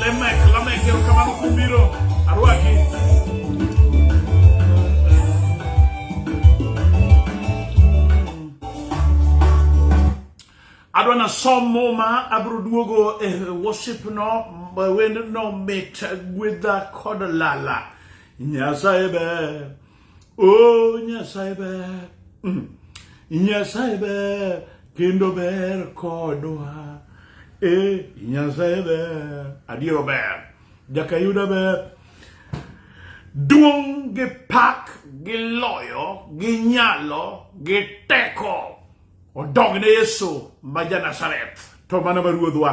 Lemek, Lamek, quiero acabar un cumbiro. Aruaki. adwa na som muma abiro duogo e worship no wend no mit gwedha kod lala nyasaye ber Oh Nyasaye ber, mm. Nyasaye ber kendo ber kodwa. Eh, Nyasaye ber, adiero ber, jakayuda ber. Duong' gi pak gi loyo gi nyalo gi teko odogne Yesu ma ja Nazareth to mana ma ruodhwa.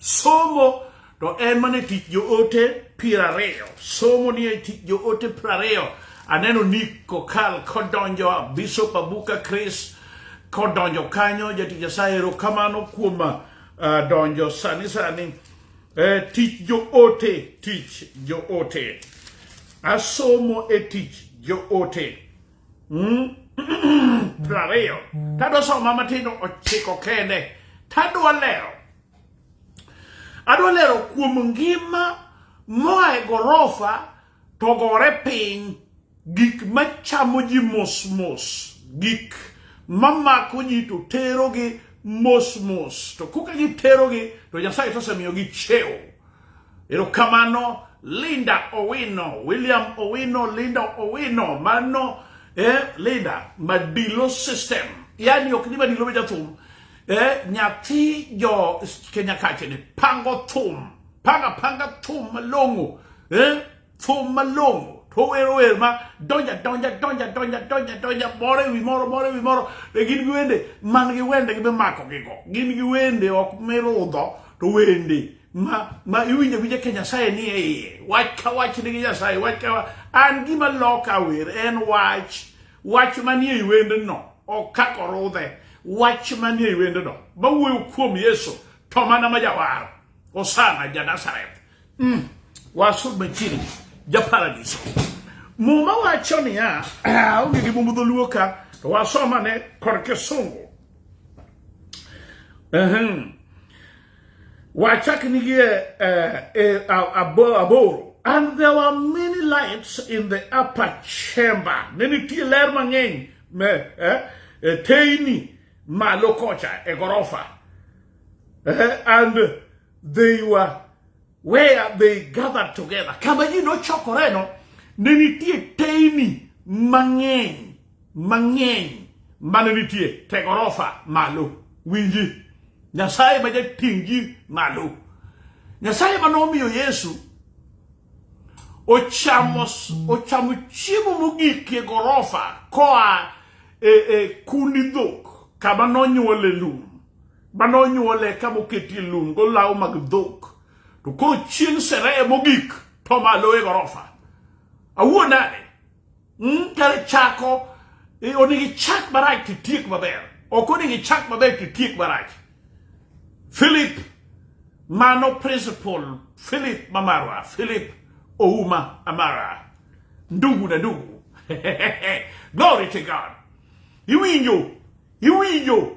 Somo to en mana e tich joote piero ariyo. Somo ni e tich joote piero ariyo. Aneno Nick Kokal kodonjo, Bishop Abuka Chris kodonjo kanyo, jatich Nyasaye erokamano kuom uh, donjo sani sani. Eh, tich joote, tich joote. Asomo e tich joote. Mm? piero ariyo. Tadwa soma matindo ochiko kende. Tadwa lero. Adwa lero kuom ngima moa e gorofa to gore piny, gik machamo ji mos mos, gik mamako ji to terogi mos mos, to koka giterogi to Nyasaye tosemiyogi cheo. Erokamano Linda Owino, William Owino, Linda Owino, mano eh, Linda Madilo System, yani ok ni Madilo be jathum eh, nyathi jo Kenya kache ni pango thum panga panga thum malong'o eh, thum malong'o to wero wer ma donja donja donja donja donja donja moro ewi moro moro ewi moro be gin gi wende man gi wende gi mimako gigo gin gi wende ok mirudho to wende ma ma iwinjo gi Kenya Nyasaye ni e iye wach ka wach ni gi Nyasaye wach ka an gima loka wer en wach Wach manie wendno ok kako rudhe. Wach manie wendno mawuoyo kuom Yesu to mana ma jawar. Osana ja Nazareth. Mm. Wasud machiegni ja paradiso. Muma wacho niya, onge gi mumb dholuo ka to wasomane kod kisungu. Uh-huh. Wachak nigi e aboro. And there were many lights in the upper chamber. Ne nitie ler mang'eny e teyni malo kocha e gorofa. And they were where they gathered together, kama ji nochokoreno ne nitie teyni mang'eny mang'eny mane nitie te gorofa malo. Winji, Nyasaye ma jating' ji malo, Nyasaye ma nomiyo Yesu ochamo ochamo chiemo mogik e gorofa koa e, e kundi dhok kama nonyuole lum ma nonyuole ka moketie lum golaw mag dhok to koro chieng' sereye mogik to malo e gorofa awuo nade mm, kare chako e, onego ichak marach titiek maber ok onego ichak maber titiek marach philip mano principal philip mamarwa philip ouma amara ndugu na ndugu glory to god iwinjo iwinjo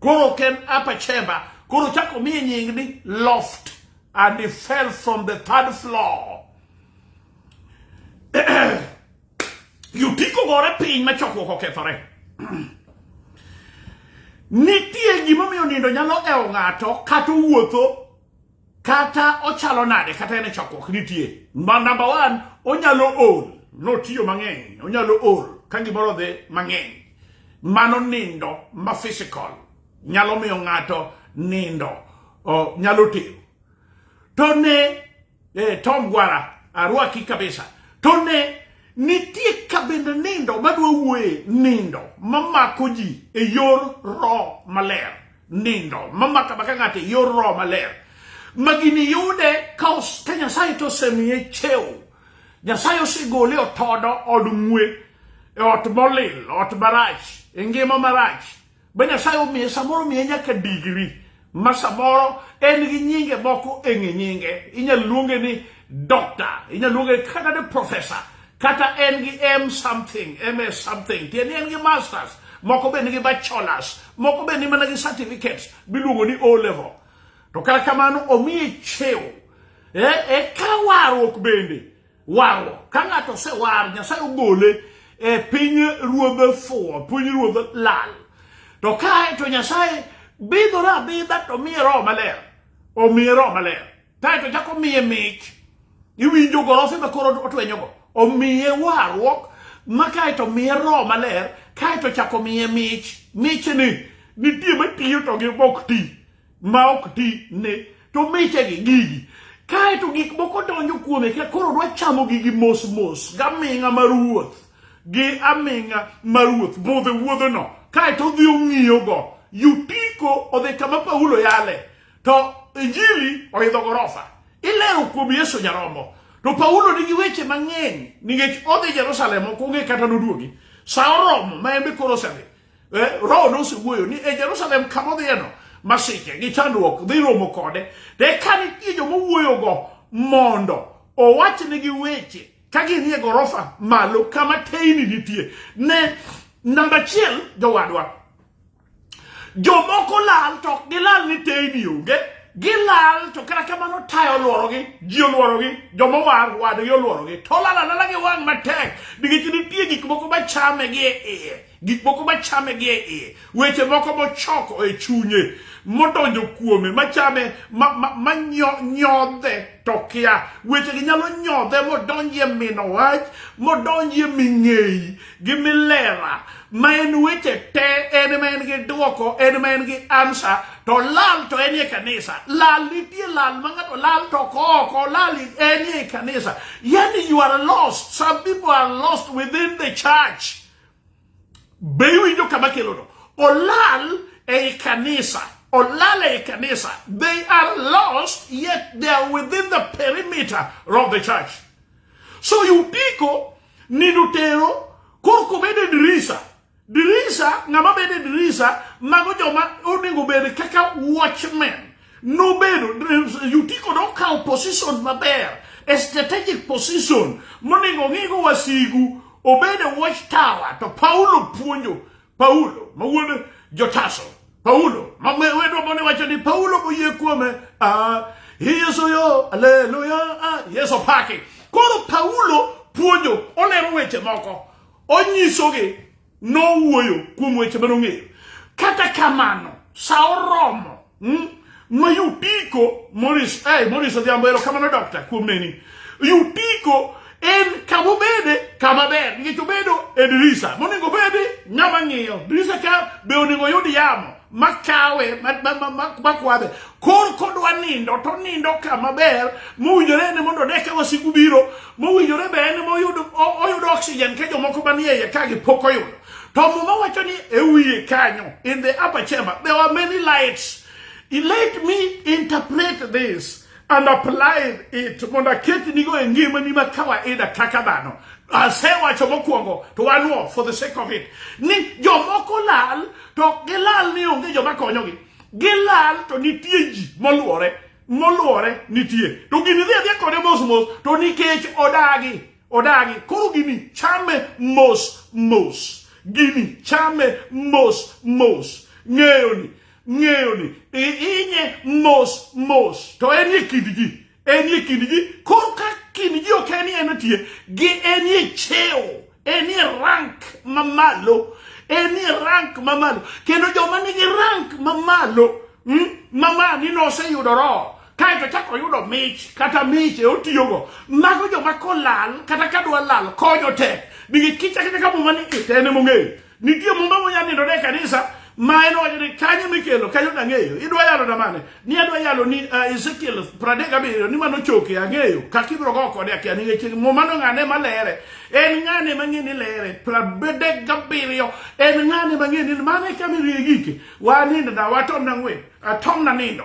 Koro ok en upper chamber, koro chako miye nying ni loft and he fell from the third floor. Yutiko gore piny ma chokruok okethore. Nitie gimomiyo nindo nyalo ewo ng'ato kata owuotho kata ochalo nade kata en e chokruok nitie ma namba one onyalo ol notiyo mang'eny onyalo ol ka gimoro odhi mang'eny mano nindo ma physical nyalo miyo ng'ato nindo o, nyalo tero to ne eh, tom gwara arwaki kabisa to ne nitie kabende nindo madwa wuoye nindo mamako ji e yor roho maler nindo mamaka maka ng'ate yor roho maler ma gini yude ka ka nyasaye to osemiye chewo nyasaye osegole otodo od ng'we e ot molil ot marach e ngima marach be nyasaye omiye samoro omiye nyaka digri ma samoro en gi nyinge moko e ng'e nyinge inyalo luonge ni dokta inyalo luonge kata ni profesa kata en gi m something ms something tiende en gi masters moko be nigi bachelors moko be ni mana gi certificates miluongo ni o level to kata kamano omiye chew e, e ka warruok bende warruok ka ng'ato osewar nyasaye ogole e piny ruodhe fuwo piny ruodhe lal to kae to nyasaye bidhore abidha to miye roho maler omiye roho maler Kae to chako miye mich. Iwinjo gorofe ma koro otwenyogo. Omiye warruok ma kae to miye roho maler kae to chako miye mich. Michni nitie matiyo to gi ok ti ma ok ti ne to michegi gigi kae to gik moko donjo kuome ka koro dwa chamo gigi mos mos gaming'a mar wuoth gi aming'a mar wuoth budhe wuodhono kae to odhi ong'iyogo yutiko odhi kama Paulo yale to injili oidho gorofa ilero kuom yesu nyaromo to paulo nigi weche mang'eny nikech odhi jerusalem ok ong'e kata noduogi sa oromo ma en be koro osedhi eh, roho nosewuoyo ni e jerusalem kama odhiyeno masiche gi chandruok dhi romo kode to eka nitie joma owuoyogo mondo owachnigi weche ka ginie gorofa malo kama teyni nitie ne namba achiel jowadwa Jomoko lal to ok gilal ni teyni onge, gilal to kata kamano tayo olworogi, ji olworogi, joma owar wadgi olworogi, to olal alala gi wang' matek nikech nitie gik moko machame gi e iye, gik moko machame gi e iye, weche moko mochoko e chunye modonjo kuome machame manyodhe to kia wechegi nyalo nyodhe modonjie mino wach modonjie ming'eyi gi milera ma en weche te en ma en gi dwoko en ma en gi ansa to lal to en e kanisa lal nitie lal ma ng'ato lal to koko lal en e kanisa yani you are lost some people are lost within the church be iwinjo kama kelono olal ei kanisa olal ei kanisa they are lost yet they are within the perimeter of the church So yupiko nindo tero korko bede dirisa. Dirisa, ng'ama bede dirisa, mago joma onego bed kaka watchmen. Nobedo, yutiko nokawo position maber, a strategic position, monego ng'igo wasigu, obede watchtower, to Paulo puonjo, Paulo, ma wuod Jotaso, Paulo, ma wendwa mane wacho ni Paulo boyie kuome, ah, Yesu yo, aleluya, ah, Yesu paki. Koro Paulo puonjo, olero weche moko, onyisogi, nowuoyo kuom weche mane ong'eyo. Kata kamano, sa oromo, hmm? ma Yutiko Morris, eh, Morris Odhiambo, erokamano dokta kuom neni. Yutiko en kama obede kama ber nikech obedo e dirisa monego obedi ng'ama ng'iyo dirisa ka be onego oyud yamo makawe makwadhe kor kodwa nindo to nindo kama ber mowinjore en mondo ne ka wasigu biro mowinjore be en moyudo oyudo oxygen ka jomoko manie iye ka gipok oyudo To Muma wacho ni e wiye kanyo in the upper chamber there were many lights. Let me interpret this and apply it mondo aket nigo e ngimani ma kawaida kaka dhano. Asewacho mokwongo to wanuo for the sake of it ni jomoko lal to ok gilal ni onge joma konyogi. Gilal to nitie ji moluore moluore nitie to gini dhi adhiya kode mos mos to nikech odagi Odagi koro gini chame mos mos. Gini chame mos mos. Ng'eyo ni ng'eyo ni inye mos mos. To en ye kind ji. En ye kind ji. Koro ka kind ji ok en ye nitie. Gi en ye cheo. En ye rank mamalo. En ye rank mamalo. Kendo joma nigi rank mamalo. Hmm? Mama ni noseyudo roho. kae to chako yudo mich kata miche otiyogo mago joma kolal kata ka dwa lal konyo tek nigi kicha kata ka muma ni itene mong'eyo nitie mumba monya nindo ne kanisa ma en wacho ni kanye mikelo kanyo dang'eyo idwa yalo na mane ni adwa yalo ni uh, ezekiel pradek abiriyo ni mano choke ang'eyo kaka ibiro go kode akia ni ng'eche muma no ng'ane malere en ng'ane mang'e ni lere pradek gabiriyo en ng'ane mang'e ni mane kama irigike wanindo na watom na ng'wen atom na nindo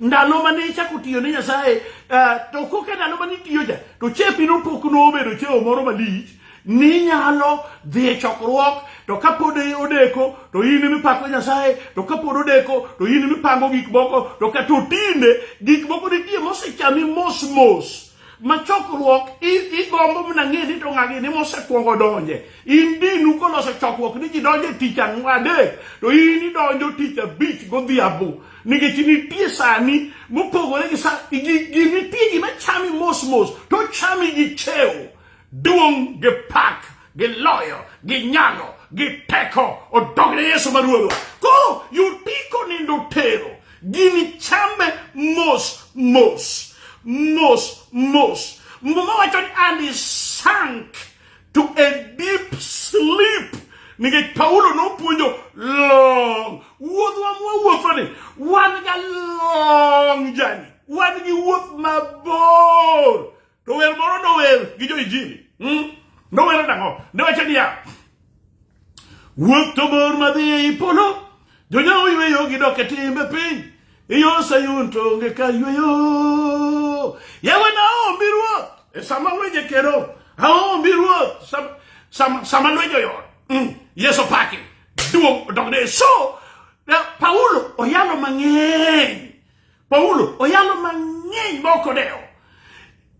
ndalo mane ichako tiyo ne nyasaye uh, to koka ndalo mane itiyo cha to chepi nopok nobedo cheo moro malich ninyalo dhi e chokruok to kapod odeko to in mipako nyasaye to kapod odeko to in mipango gik moko to kata otinde gik moko nitie mosechami mos mos ma chokruok igombo mana ng'e ni to ng'agini mosekwongo donje in dinu koloso chokruok ni ji donje tich ang'adek to in idonjo tich abich godhiambo nikech nitie sani mopogore gi sa nitie gima chami mos mos to chami gi chew duong' gi pak gi loyo gi nyalo gi teko odogne yesu ma ruodhwa koro yutiko nindo tero gini chame mos mos mos mos muma wacho ni and sank to a deep sleep nikech Paulo nopuonjo long wuodhwa mwawuotho ni wan ga long jani wan gi wuoth mabor to wer moro nower gi jo injili hmm? nowero nang'o ne wacho niya wuoth to bor madhi ei polo Jonyawo oyweyo gidok e timbe piny, iyo Sayun to onge ka yweyo. Yawe na aombi ruoth, e sama weje kero, aombi ruoth, sama, sama, sama lwenjo yor. Mm. Yesu paki, duong' odokne. So, na- Paulo oyalo mang'eny. Paulo oyalo mang'eny ma ok odewo.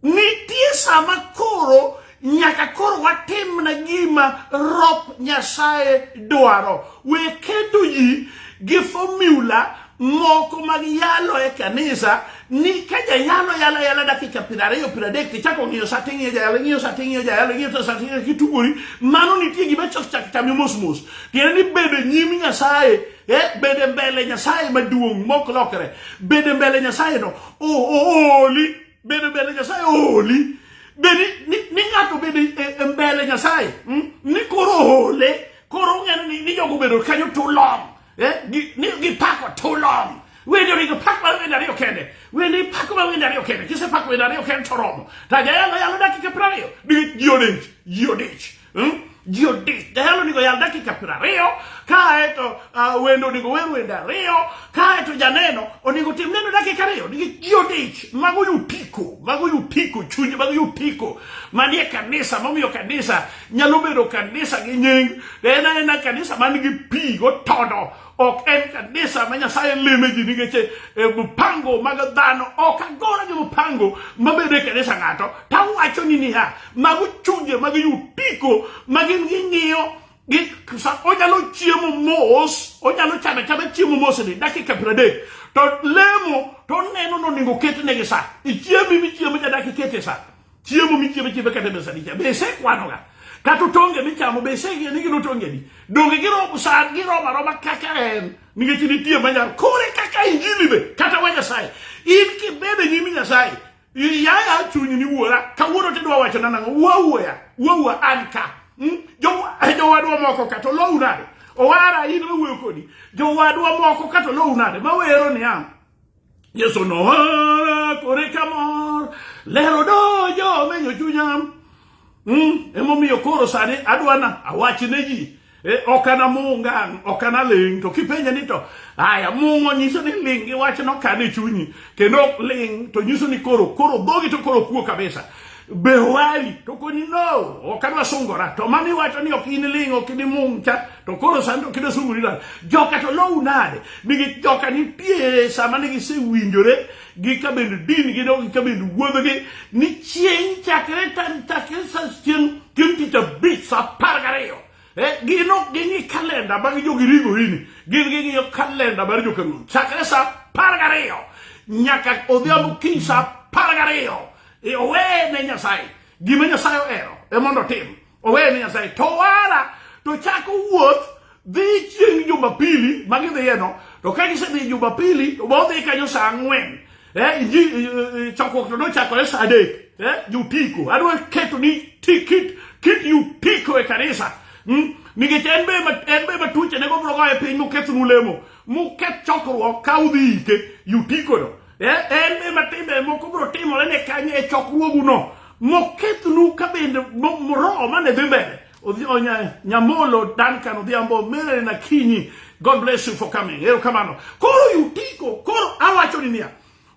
Nitie sama koro nyaka koro watimna gima rop Nyasaye dwaro. We kedo ji gi formula moko mag yalo e kanisa ni ka jayalo yala yala dakika piero ariyo piero adek tichako ng'iyo sa ting'iyo jayalo ing'iyo sa ting'iyo jayalo ing'iyo to sa ting'iyo kitugori mano nitie gima chok chak chami mos mos tiende ni bedo e nyim nyasaye eh, bedo mbele nyasaye maduong' mok lokre bedo mbele nyasaye no ooli bedo bende nyasaye oholi bedi ni, ni ng'ato bedo e, e mbele nyasaye mm? ni koro ohole koro ong'eno ni, ni jogo bedo kanyo tulom eh? gi, ni gipako tulom wende onego pak mar wende ariyo kende wende ipako mar wende ariyo kende kisepako wende ariyo kende to oromo to ajayalo yalo dakika piero ariyo nikech ji odich ji odich Hmm? Ji odich, jahero onego yal dakika piero ariyo, kae to uh, wendo onego wer wende ariyo, kae to janeno onego tim neno dakika ariyo. Nikech ji odich, mago yutiko, mago yutiko chuny, mago yutiko manie kanisa, momiyo kanisa nyalo bedo kanisa gi nying, en aena kanisa man gi pi gotodo ok en kanisa ma Nyasaye lime ji nikech e, mpango mag dhano ok agora gi mpango mabedo e kanisa ng'ato to awacho ni niya mago chunje mag yutiko ma gin ging'iyo onyalo chiemo mos onyalo chame chame chiemo mos ni dakika piero adek to lemo to oneno ni onego oketnegi sa ichiemi michiemo ja dakika ikete sa Chiemo michiemo chiemo kata mesa ni cha bese kwano ga. Kata tonge michamo bese ye ni gino tonge ni. Donge giro sa giro ma roma kaka en. Ninge chini tie manyar kore kaka injili be kata wanya sai. In ki bebe nyimi nyasaye. Yaya chunyi ni wuora kawuono tidwa wacho na nango wuo wuoya wuo wuo an ka. Hmm? Jo jo wadwa moko kata lowu nade. Owara in wuoyo kodi. Jo wadwa moko kata lowu nade. Ma wero ni am. Yesu nohora kore kamor lero dojo menyo chunyam mm, emomiyo koro sani adwana awach ne ji Eh, ok an amung' ngang' ok an aling' to kipenje ni to aya mung'o nyiso ni ling' iwacho nokan e chunyi kendo ling' to nyiso ni koro koro dhogi to koro kuo kabisa Be owari? To koni no, ok adwa sungora. To mami wacho ni ok in ling, ok in mung cha, to koro sani ok idwa sungori lal. Joka to lowu nade? Nigi joka nitie sama ne gisewinjore gi ka bende din gi no gi ka bende wuodhogi ni chieng' chakre tan chakre sa chieng' chieng' tich abich sa apar gariyo. Eh, gin ok ging'i kalenda mag jogirigo ini. Gin ging'iyo kalenda mar jokaruoth. Chakre sa apar gariyo nyaka odhiambo kiny sa apar gariyo. e oweye ne nyasaye gima nyasaye ohero e mondo otim oweye ne nyasaye to wara to chako wuoth dhi chieng' jumapili ma gidhiyeno to ka gisedhi jumapili to bodhi kanyo sa ang'wen eh, inji eh, eh, chokruok to nochakore sa adek eh, jutiko adwa keto ni ti- kit kit jutiko e kanisa mm? nikech en be ma- en be matuche ne gobrogo e piny mokethnu lemo moketh chokruok ka udhi ike jutikono En ema timbe moko biro timore ne kanyo e chokruoguno mokethnu ka bende roho mane dhi mbele Nyamolo Duncan Odhiambo Mary Nakinyi God bless you for coming erokamano koro yutiko koro awacho ni niya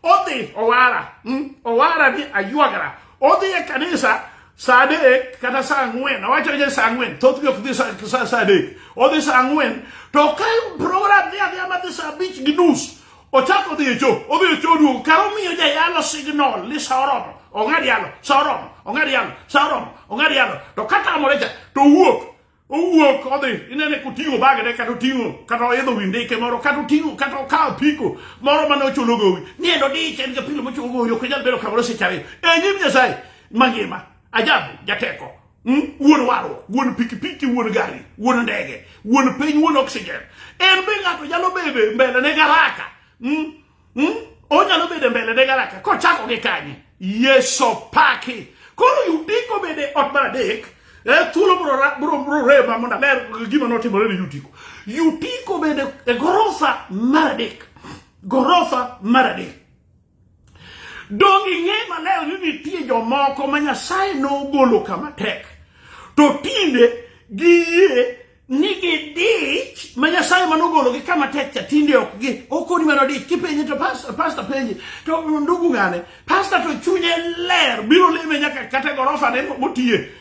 odhi owara hmm? owara ni aywagara odhi e kanisa saa adek kata saa ang'wen awacho ni saa ang'wen thothgi ok dhi saa adek odhi saa ang'wen to ka program dhi adhiya madhi saa abich gi nus ochako odhi e choo odhi e choo duogo kar omiyo jayalo signal ni sa oromo ong'ad yalo sa oromo ong'ad yalo sa oromo ong'ad yalo to katamore cha to owuok owuok odhi inene koting'o bagene kata oting'o kata oidho wi ndike moro kata oting'o kata okawo piko moro mane ochulo gowi ni endo dich en gapilo mochulo gowi ok inyal bedo kamoro seche ariyo e nyim nyasaye mangima ajabu jateko Hmm? wuon warruok wuon pikipiki wuon gari wuon ndege wuon piny wuon oxygen en be ng'ato nyalo bede mbele ne garaka hmm? Hmm? onyalo bede mbele ne garaka kochako gi kanye yeso paki koro yudiko bede ot mar adek eh, thuolo bro rema mondo aler gima notimore ne yutiko yutiko bende e gorofa mar adek gorofa mar adek Donge ing'eyo maler ni nitie jomoko ma Nyasaye nogolo kama tek to tinde giyie ni gidich ma Nyasaye ma nogologi kama tek cha tinde ok gi okoni mana dich kipenje to pasta pasta penje to ndugu ng'ane pasta to chunye ler biro lime nyaka kata gorofa ne motiye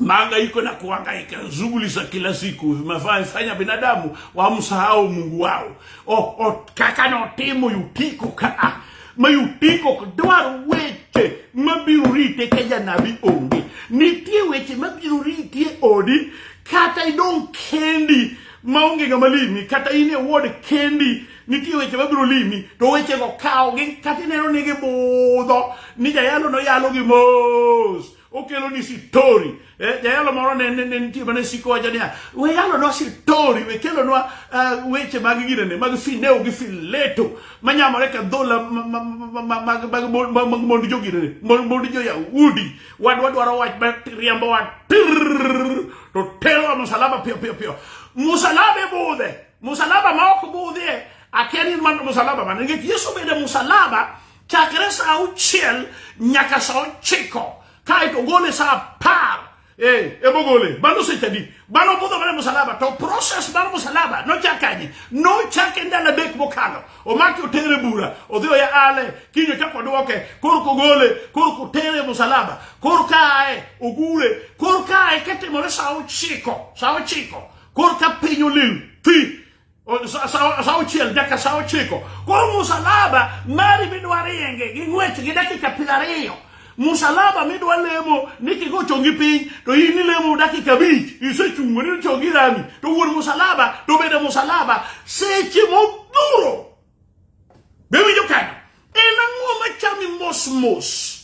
maangaiko na kuangaika, shughuli za kila siku vimefanya binadamu wamsahau Mungu wao. O, o kaka no timo yutiko ka ah, ma yutiko dwaro weche mabiro rite ka janabi onge. Nitie weche mabiro ritie odi kata idong kendi maonge ng'ama limi kata in e wod kendi Nitie weche mabiro limi to wechego kawgi kata ineno ni gibudho ni jayalo noyalo gi mos okelo ni sitori eh, jayalo moro ne nitie mane siko wacho niya we yalonwa sitori we kelonwa eh, weche mag ginene mag fineo gi fileto manyamore ka dhola mag mond joginene mond joyahudi wadwa dwaro wach riembowa to terowa musalaba piyo piyo piyo musalaba e budhe musalaba ma ok budhie akia ni mano musalaba mane nikech yesu obedo musalaba chakre sa auchiel nyaka sa ochiko kaeto ogole sa apar Eh, ebogole bano sechadi bano budho mane musalaba to process mar musalaba nochakanye nochake ndalo adek mokalo omaki otere bura odhi oya ale kiny ochako dwoke kor kogole kor kotere musalaba kor kae ogure kor kae ketimore sa ochiko sa ochiko Koro ka piny olil thi sa auchiel dakika sa ochiko koro musalaba mari midwa rienge gi ng'wech gi dakika piero ariyo musalaba midwa lemo ni kigo chongi piny to in ilemo dakika abich isechungo ni chongi rami to wuon musalaba to bende musalaba seche modhuro Be winjo kanyo? En ang'o machami mos mos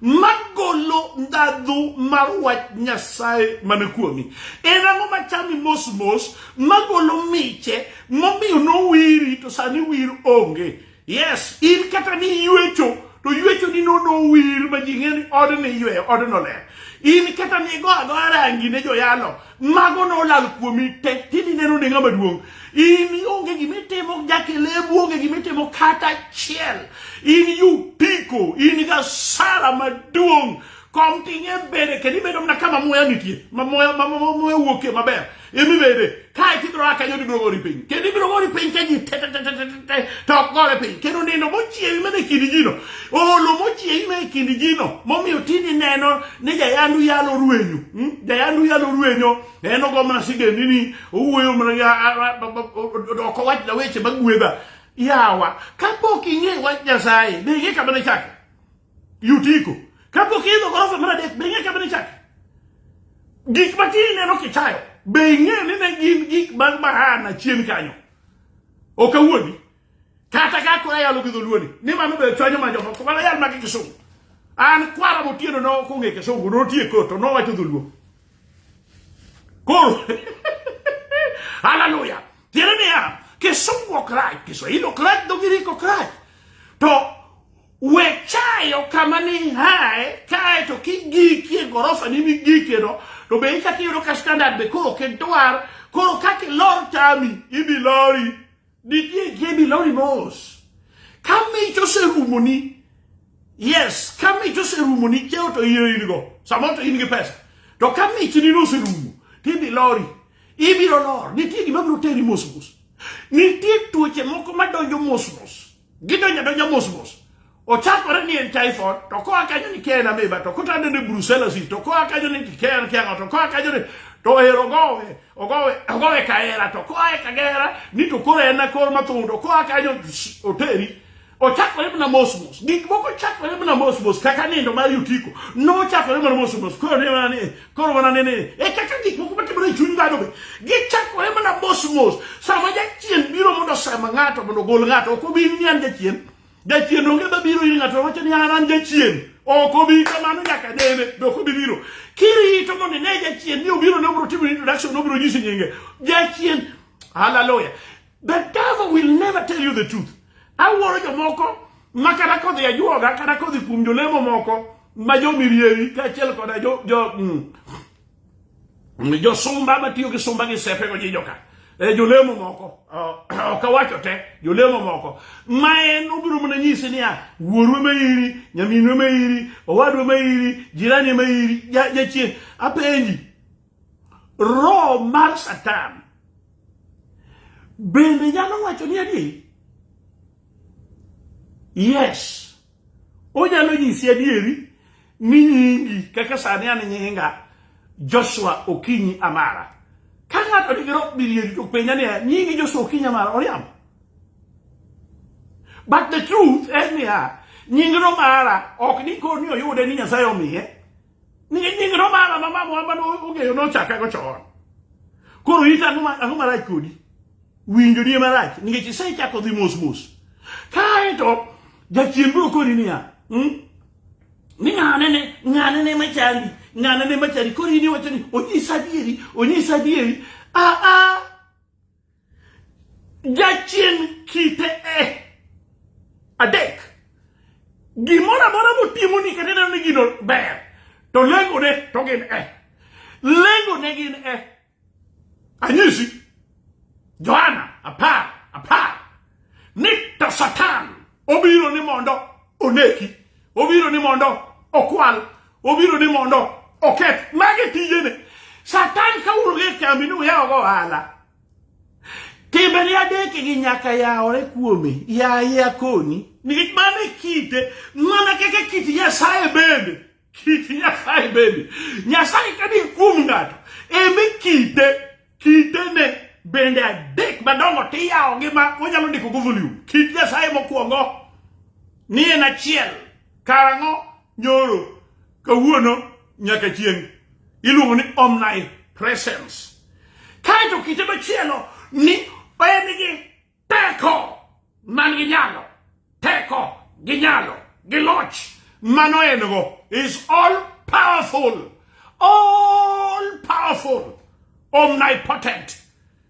magolo ndhadhu mar wach Nyasaye man kuomi? En ang'o machami mos mos magolo miche momiyo nowiri to sani wir onge? Yes, in kata ni yuecho to yuecho ni nono wir ma ji ng'e ni odni yweyo odno ler. In kata ni go agoya rangi ne joyalo mago ne olal kuomi te tini neno ne ng'ama duong' in onge gima itimo jakelebu onge gima itimo kata achiel in yupiko in gasara maduong' kom ting'e bede kendo ibedo mana kama muya nitie ma muya ma muya wuokie maber imi bede kae tibiro a kanyo tibiro gori piny kendo ibiro gori piny ka ji te te te te te te to ok gore piny kendo nindo mochiewi mana e kindi jino Olo mochieng' na e kind jino momiyo tini neno ni jayandu yalo ruenyo. Hmm? Jayandu yalo ruenyo en ogo mana sigendini owuoyo mana ok owach na weche magwedha. Yawa kapok ing'e wach Nyasaye be ing'e kama ne chake. Yutiko kapok idho gorofa mar adek be ing'e kama ne chake. Gik matini neno kichayo be ing'e ni ne gin gik mag mahana chien kanyo. Ok awuondi. kata ka koro ayalo gi dholuoni ni mano be chwanyo ma jomoko to mana yal magi kisungu an kwara motieno no kong'e kisungu notie kot to nowacho dholuo koro haleluya tiende niya kisungu ok rach kiswahili ok rach dho giriki ok rach to we chayo kama ni hae kae to kigikie gorofa ni migikie no to be ichak iyudo ka standard be koro ok idwar koro kaka ilor tami ibi lori Nitie Gaby Lori Mos. Kamich oserumoni. Yes, kamich oserumoni cheo to iro in go. Samoro to in gi pesa. To kamich ni noserumo. Tibi Lori. Ibiro lor. Nitie gima biro teri mos mos. Nitie tuoche moko madonjo mos mos. Gidonjo donja mos mos. Ochakore ni en typhoid, to koa kanyo ni kia en ameba, to kotande ni brucellosis, to koa kanyo ni kia en kiang'o, to koa kanyo ni to ohero ogowe, ogowe, ogowe kahera, to koa e kagera ni to koro en akor mathung', to koa kanyo oteri. Ochakore mana mos mos. Gik moko chakore mana mos mos kaka nindo mar Yutiko. Nochakore mana mos mos. Koro ne mana ni koro wana nene e kaka gik moko matimore e chuny dhano be gichakore mana mos mos sama jachien biro mondo osema ng'ato mondo ogol ng'ato ok obi ni an jachien jachien onge ma biro ir ng'ato wacho ni an an jachien ok obi kamano nyaka nene be ok obi biro kirito mondo ine jachien ni obiro ne obiro timo introduction obiro nyisi nyinge jachien haleluya The devil will never tell you the truth. Awuoro jomoko ma kata kodhi ajuoga kata kodhi kuom jolemo moko ma jomirieri kaachiel koda jo, jo, mm, mm josumba matiyo gi sumba gi sepe go jijoka e jolemo moko ok awacho te jolemo moko ma en obiro mana nyisi niya wuorwe ma iri nyaminwe ma iri owadwe ma iri jirani ma iri jachien apenji Roho mar Satan bende nyalo wacho ni adi? Yes. Onyalo nyisi adieri ni nyingi kaka sani an nyinga Joshua Okinyi Amara. Ka ng'ato nigi roho bilieri to penja ni nyingi Joshua Okinyi Amara oriambo. But the truth en niya, nying Romara ok ni koni oyude ni Nyasaye omiye. nying romara ma mamwa mane ong'eyo nochakago chon koro ita ang'o marach kodi winjo nie marach nikech isechako dhi mos mos kaeto jachien biro kori niya hmm? ni ng'anene ng'anene machandi ng'anene machandi koro in iwacho ni onyisa adieri onyisa adieri aa ah, ah. Jachien kite e adek. Gimoro amora motimo ni kata neno ni gino ber to lengone to gin e. Lengone gin e. Anyisi Johana apar apar ni to Satan obiro ni mondo oneki. obiro ni mondo okwal obiro ni mondo oketh magi tijene satan ka wuok e kambi ni uyawogo ohala timbeni adekegi nyaka yawore kuome yaye akoni nikech mano e kite mana kaka kit nyasaye bende kit nyasaye bende nyasaye kani kuom ng'ato eme kite Kitene bende adek madongo tiyawogi ma onyalo ndiko go volume. Kit Nyasaye mokwongo ni en achiel karang'o nyoro kawuono nyaka chieng' iluongo ni omnipresence. Kaeto kite machielo ni en gi Teko man gi nyalo, teko gi nyalo, gi loch mano en go is all powerful, all powerful, omnipotent.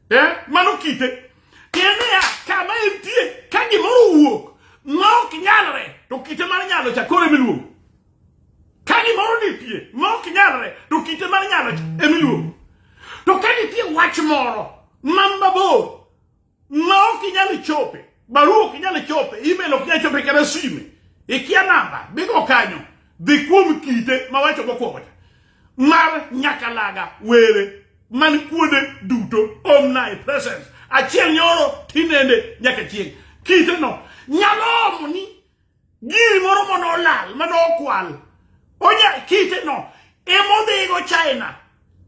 Eh? Mano kite. Tiende ya kama entie ka gimoro wuok ma ok nyalre to kite mar nyalo cha koro emiluongo. Ka gimoro ni pie ma ok nyalre to kite mar nyalo cha emiluongo. To ka nitie wach moro ma mabor ma ok inyal chope barua ok inyal chope email ok inyal chope kata sime ikia namba bigo kanyo dhi kuom kite ma wacho mokwongo cha mar nyakalaga were man kuonde duto omni presence achiel nyoro tinende nyaka chieng' kiteno nyalo omo ni Giri moro mane olal, mane okwal. Onya kite no. Emodhigo China.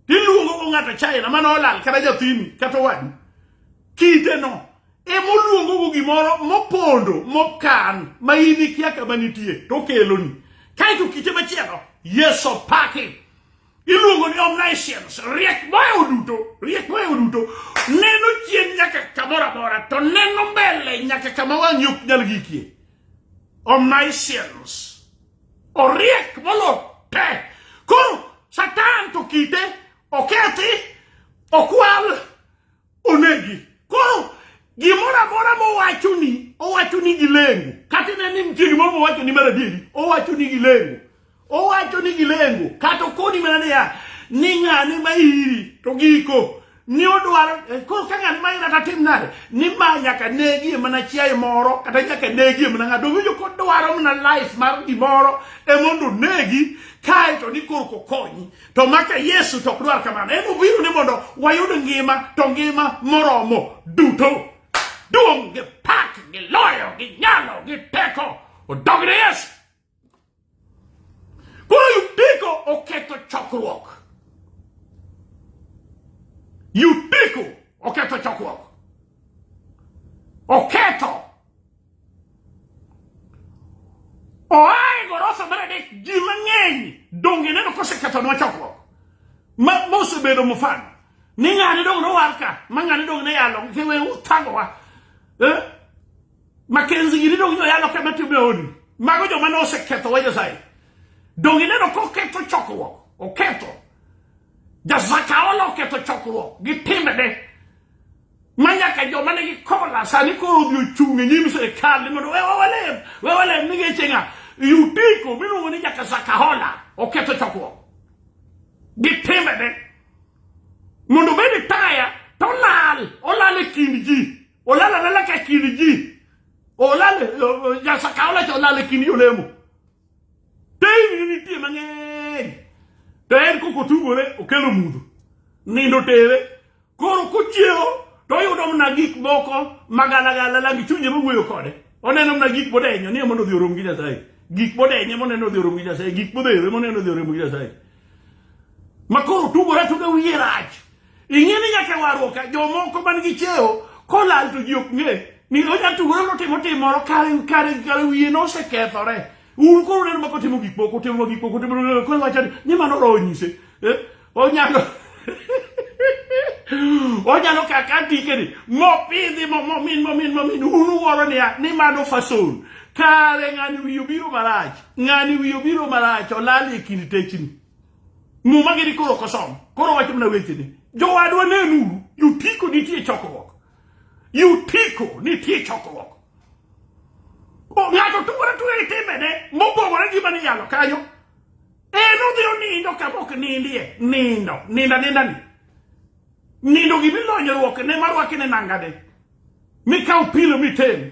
Iluongo go ng'ato China mane olal kata jathini kata owadu. Kite no. Emoluongo go gimoro mopondo mokan ma in ikia kama nitie to okeloni. Kae to kite machielo. Yes, opaki. iluongo ni omniscience riek mayo duto riek mayo duto neno chien nyaka kamoro amora to neno mbele nyaka kama wang'i ok nyal gikie omniscience oriek molo te koro satan to kite okethi okwal onegi koro gimoro amora mowachoni owachoni gi lengo kata ine ni nitie gimoro mowachoni mar adieri owachoni gi lengo owachoni gi lengo kata okoni mana niya ni ng'ani ma iri to giko ni odwaro eh, koro ka ng'ani ma ira tatim nade ni ma nyaka negie mana chiaye moro kata nyaka negie mana ng'ato winjo kodwaro mana life mar gimoro e mondo onegi kae to ni korko konyi To maka Yesu to ok dwar kamano. En obiro ni mondo wayud ngima to ngima moromo duto. Duong' gi pak gi loyo gi nyalo gi teko odog ne Yesu. Koro Yutiko oketho chokruok. Yutiko oketho chokruok. Oketho oaye gorofa mar adek ji mang'eny donge neno kosekethonwa chokruok ma mosebedo mfano ni ng'ani dong nowar ka ma ng'ani dong ne yalo ke we uthagowa eh? makenzi gini dong noyalo ka matime odi mago joma ne oseketho wa nyasaye donge neno koketho chokruok oketho jasakaola oketho chokruok gi timbene ma ñàkk jom ma negi kokola sani ko obi ochunge nyim serikal ni mondo wewa walem wewa walem ni geche nga yutiko miluongo ni nyaka sakahola oketho chokruok gi timbene mondo obed e taya to olal olal e kind ji olal alala ka kind ji olal eh, eh, nyasakahola cha olal e kind jolemo Teyni nitie mang'eny. To en kok otugore okelo mudho. Nindo tere. Koro kochiewo to oyudo mana gik moko magalagala langi chunye mawuoyo kode. Oneno mana gik modenyo ni mondo odhi orom gi Nyasaye. Gik modenye moneno odhi orom gi Nyasaye. Gik modhere moneno odhi orom gi Nyasaye. Makoro tugore tuga wiye rach. Ing'e ni nyaka warruok ka jomoko man gi cheo kolal to ji ok ng'e ni onya tugore notimo tim moro kare kare kare wiye nosekethore. Un koro uneno ma kotimo gik moko timo gik moko timo koro wacho ni ni mano roho nyise. Eh? Onyalo onyalo kaka tikeni mopidhi mo- momin momin momin un uwuoro niya ni mano fason kare ng'ani wiye obiro marach ng'ani wiye obiro marach olal e kind techni Muma gini koro kosom. Koro wacho mna weche ni. Jowadwa nenuru, yutiko nitie chokruok. Yutiko nitie chokruok. Ng'ato tugore tugore gi timbene mopogore gi mane yalo kanyo. En odhi onindo kama ok nindie. Nindo. Ninda ninda ni. Nindo gimilonyruok ne marwaki ne nangade. Mikaw pilo mitem.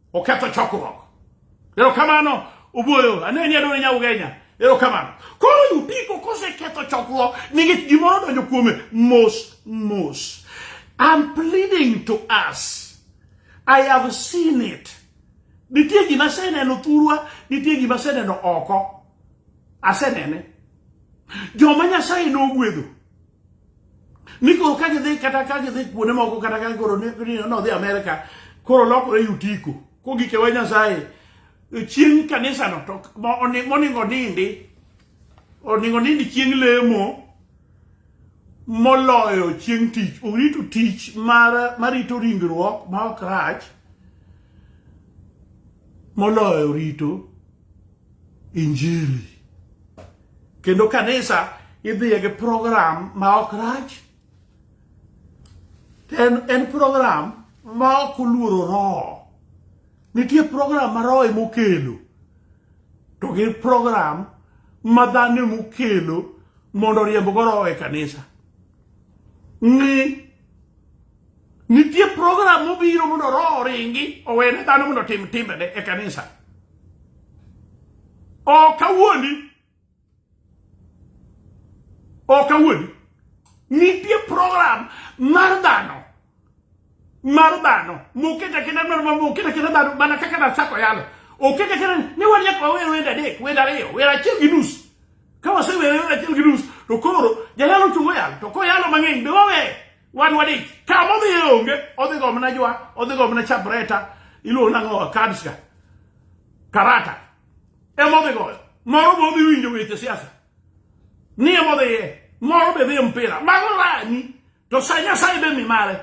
oketho chokruok. Erokamano ubuoyo ane nyaduong' nya ugenya erokamano koro yupiko koseketho chokruok nikech gimoro donjo kuome mos mos I'm pleading to us I have seen it nitie gima aseneno thurwa nitie gima aseneno oko asenene joma nyasaye nogwedho Niko ka gidhi kata ka gidhi kuonde moko kata ka koro ne odhi Amerika koro lokore yutiko kogike wa Nyasaye chieng' kanisano to moningo nindi oningo nindi chieng' lemo moloyo chieng' tich orito tich mar marito ringruok ma ok rach moloyo rito injili kendo kanisa idhiye gi program ma ok rach en, en program ma ok oluoro roho nitie program ma roho emokelo to gi program ma dhano emokelo mondo oriembgo roho e kanisa ng'i Nitie program mobiro mondo roho oringi owene dhano mondo tim timbene e kanisa. Ok awuondi. Ok awuondi. Nitie program mar dhano mar dhano moket aketa mar moket aketa dhano mana kaka nachako yalo oket aketa ni wan nyaka wawer wende adek wende ariyo wer achiel gi nus ka wasewer wende achiel gi nus to koro jayalo chungo yalo to koyalo mang'eny be waweye Wan wadi kama odhi e onge, odhi go mana jwa, odhi go mana chabreta, iluongo nang'o kadska. Karata. Ema odhi goyo. Moro be odhi winjo weche siasa. Ni ema odhi ye. Moro be dhi e mpira. Mago rani. To sa Nyasaye be mi mare.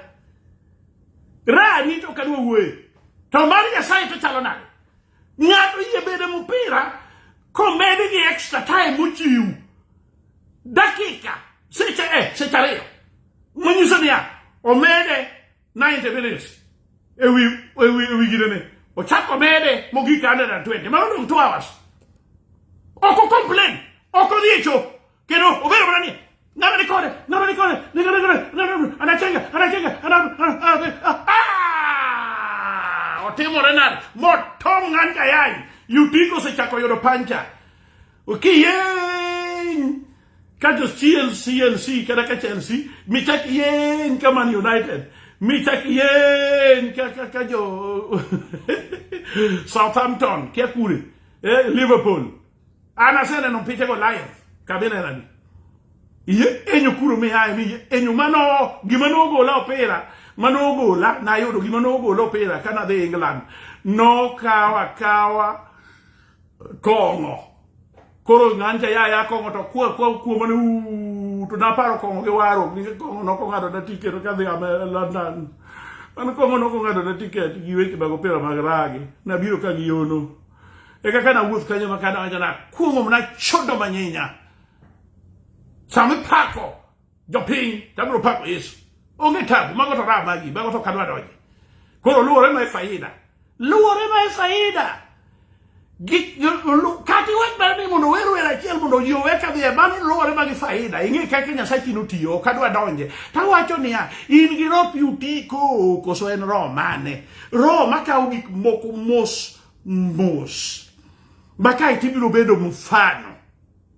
Rani to kadwa wuoye. To mar Nyasaye to chalo nade? Ng'ato yie bede mpira komedi gi extra time mochiw. dakika seche e seche ariyo manyiso niya omede 90 minutes ewi ewi ewi gidene ochako mede mogik 120 ma odong 2 hours oko complain oko dhiecho kendo obedo mana ni ng'ama ni kode ng'ama ni kode ni kode kode anachenga anachenga otimore nade motong' an kayayi yutiko osechako yudo pancha Okay, yay! Kati ya CLC, LC, kada kati ya LC, mitaki yay kama ni United. Mitaki yay kaka kajo Southampton, kia kule. Eh, Liverpool. Ana sene no pite ko Lions. Kabina nani? Iye enyo kuro mi hae mi enyo mano gima no gola opera. Mano gola na yodo gima no gola opera kana de England. No kawa kawa kong'o koro ng'anja ya ya kong'o to kwa kwa kuoma ne to naparo kong'o gi waro ni kong'o no ko ngado na tiket ka dhi ame London an kong'o no ko ngado na tiket gi weche mag opira mag ragi na biro ka gi yono e kaka na wuoth kanyo ma kana na kuomo na chodo manyinya sami pako jopiny to abiro pako Yesu. Onge tabu, mago to raha magi, mago to kadwa donje. Koro luwore ma e faida. Luwore ma e faida. Kati wach mar ni mondo wer wer achiel mondo ji owe ka dhiye mano luwore ma gi faida. Ing'e kaka Nyasachi notiyo, ok adwa donje. Tawacho niya, in gi roho pi uti ko koso en roho mane? Roho makawo gik moko mos mos. Ma kae tibiro bedo mfano.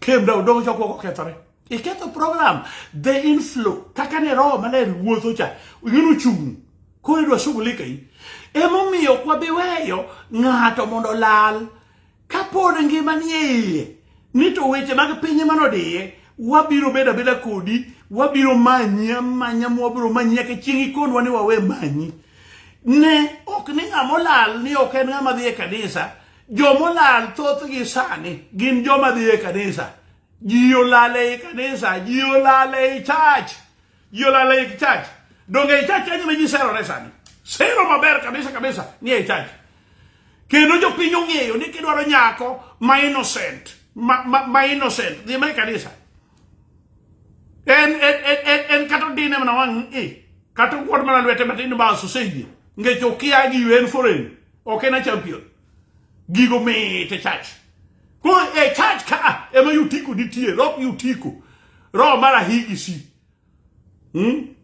kemda odong' chokruok okethore iketho program the inflow kaka ne roho maler wuotho cha ing'eno chung' koro idwa shughulika in emomiyo ok wabi weyo ng'ato mondo olal kapod ngima nie iye ni to weche mag piny ema nodiye wabiro bedo abeda kodi wabiro manyi amanya mwabiro manyi nyaka chieng' ikonwa ni wawe manyi ne ok ni ng'ama olal ni ok en ng'ama dhi e kanisa Jomolal thothgi sani gin joma dhi e kanisa. Ji olal ei kanisa, ji olal ei church, ji olal ei church. Donge ei church kanyo ma ji serore sani? Sero maber kabisa kabisa ni ei church. Kendo jopiny ong'eyo ni kidwaro nyako ma innocent, ma, ma, ma innocent, dhi mae kanisa. En, en, en, en, en kata odine mana wang' i, kata okuot mana lwete matin bas oseyie. Ngech okia gi yuen foreign. ok en a champion gigo mit e church ko e church ka ema yutiko nitie rock yutiko roho mar ahigi si hmm?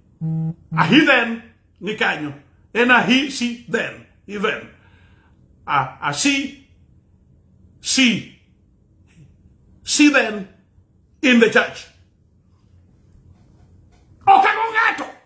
ahi then ni kanyo en ahi si then even a asi si si then in the church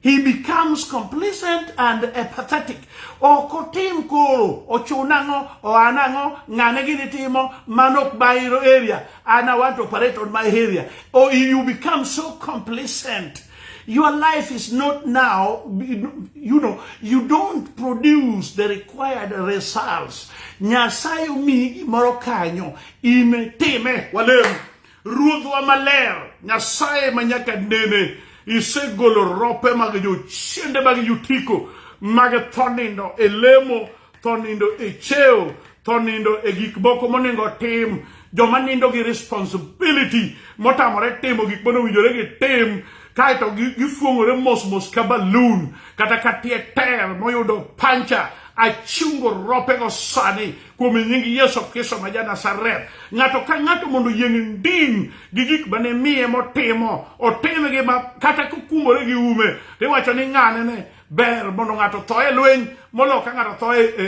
He becomes complacent and apathetic. Ok otim koro, ochun ang'o, oan ang'o, ng'ane gini timo, man ok my area, and I want to operate on my area. Or you become so complacent. Your life is not now, you know, you don't produce the required results. Nyasaye omiyi gimoro kanyo, in time, walem. Ruodhwa maler, Nyasaye ma nyaka nene, isegolo rope mag jochiende mag yutiko mag tho nindo e lemo, tho nindo e cheo, tho nindo e gik moko monego otim, joma nindo gi responsibility motamore timo gik mane owinjore gitim kaeto gifuong'ore mosmos ka balun kata ka tie ter moyudo pancha achungo ropego sani kuom nying Yesu Kristo ma ja Nazareth. Ng'ato ka ng'ato mondo yieng ndiny gi gik ma ne miye motimo, otimgi ma kata kukumore gi ume, to iwacho ni ng'ane ne ber mondo ng'ato tho e lweny molo ka ng'ato tho e, e,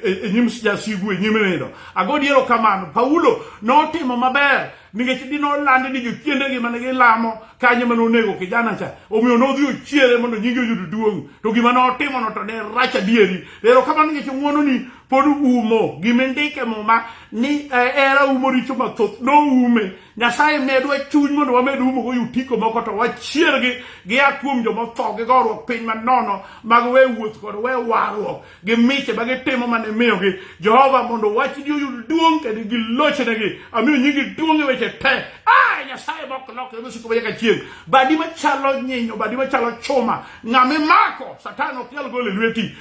e, e nyim jasigu e nyim nindo. Ago diero kamano, Paulo notimo maber nikech dine olandi ni jochiendegi mane gilamo kanyo mane onego kijana cha omiyo nodhi ochiere mondo nyinge oyud duong' to gima notimono to ne rach adieri ero kamano nikech ng'wononi pod umo gima indike muma ni eh, era umo richo mathoth noume nyasaye medwa chuny mondo wamed umo go yutiko moko to wachiergi gia kuom jomotho gi gorruok piny manono mag we wuoth kod we warruok gi miche ma gitimo mane miyogi jehova mondo wachni oyud duong' kendo gilochnegi amiyo nyingi duong' e weche te ah, nyasaye mok lokre mosiko ma nyaka chieng' badi machalo nyinyo badi machalo chuma ng'ama imako satan ok nyal gole lweti